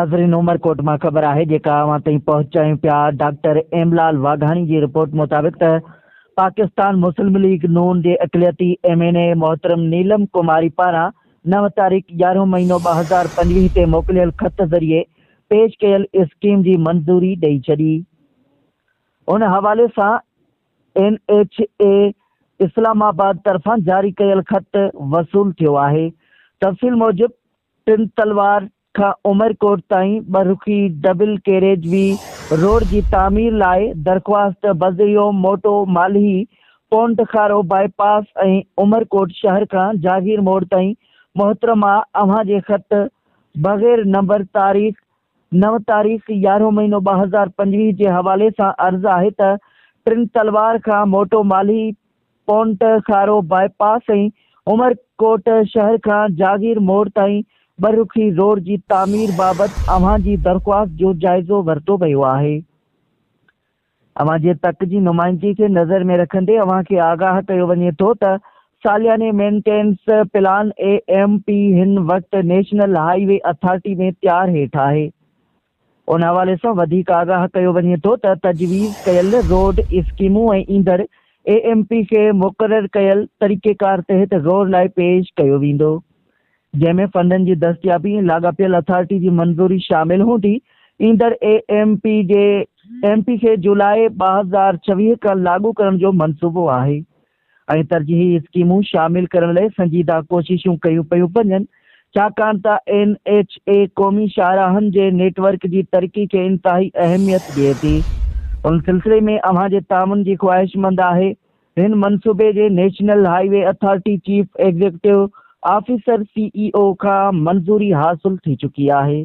ناظرين عمرڪوٽ مان خبر آهي جيڪا اوهان تائين پهچايون پيا ڊاڪٽر ايملال واگهاڻي جي رپورٽ مطابق ته پاڪستان مسلم ليگ نون جي اقليتي ايم اين اي محترم نيلم ڪماري پاران نو تاريخ يارهون مهينو ٻه هزار پنجويهه تي موڪليل خط ذريعي پيش ڪيل اسڪيم جي منظوري ڏئي ڇڏي ان حوالي سان N H A Islamabad طرفان جاري ڪيل خط وصول ٿيو آهي تفصيل موجب ٽن تلوار کان عمرڪوٽ تائين ٻه رخي ڊبل ڪيريج وي روڊ جي تعمير لاء درخواست، بذريعو موٽو مالهي، پونٽ کارو باء پاس ۽ عمرڪوٽ شهر کان جاگير موڙ تائين محترمه اوهان جي خط بغير نمبر تاريخ نو تاريخ يارهون مهينو ٻه هزار پنجويهه جي حوالي سان عرض آهي ته ٽن تلوار کان موٽو مالهي پونٽ خارو باء پاس ۽ عمرڪوٽ شهر کان جاگير موڙ تائين ٻه رخي روڊ جي تعمير بابت اوهان جي درخواست جو جائزو ورتو ويو آهي. اوهان جي تڪ جي نمائندگي کي نظر ۾ رکندي اوهان کي آگاهه ڪيو وڃي ٿو ته سالياني maintenance plan A M P هن وقت نيشنل هاء وي اٿارٽي ۾ تيار هيٺ آهي. ان حوالي سان وڌيڪ آگاهه ڪيو وڃي ٿو ته تجويز ڪيل روڊ اسڪيمون ۽ ايندڙ اي ايم پي کي مقرر ڪيل طريقيڪار تحت غور لاء پيش ڪيو ويندو جنهن ۾ فنڊن جي دستيابي ۽ لاڳاپيل اٿارٽي جي منظوري شامل هوندي ايندڙ اي ايم پي جي ايم پي کي جولاء ٻه هزار ڇويهه کان لاڳو ڪرڻ جو منصوبو آهي ۽ ترجيحي اسڪيمون شامل ڪرڻ لئي سنجيده ڪوششون ڪيون پيون وڃن، ڇاڪاڻ ته اين ايڇ اي قومي شاهراهن جي نيٽ ورڪ جي ترقي کي انتهائي اهميت ڏئي ٿي. ان سلسلي ۾ اوهان جي تعاون جي خواهشمند آهي. هن منصوبي جي national highway authority chief executive officer, C E O, کان منظوري حاصل ٿي چڪي آهي.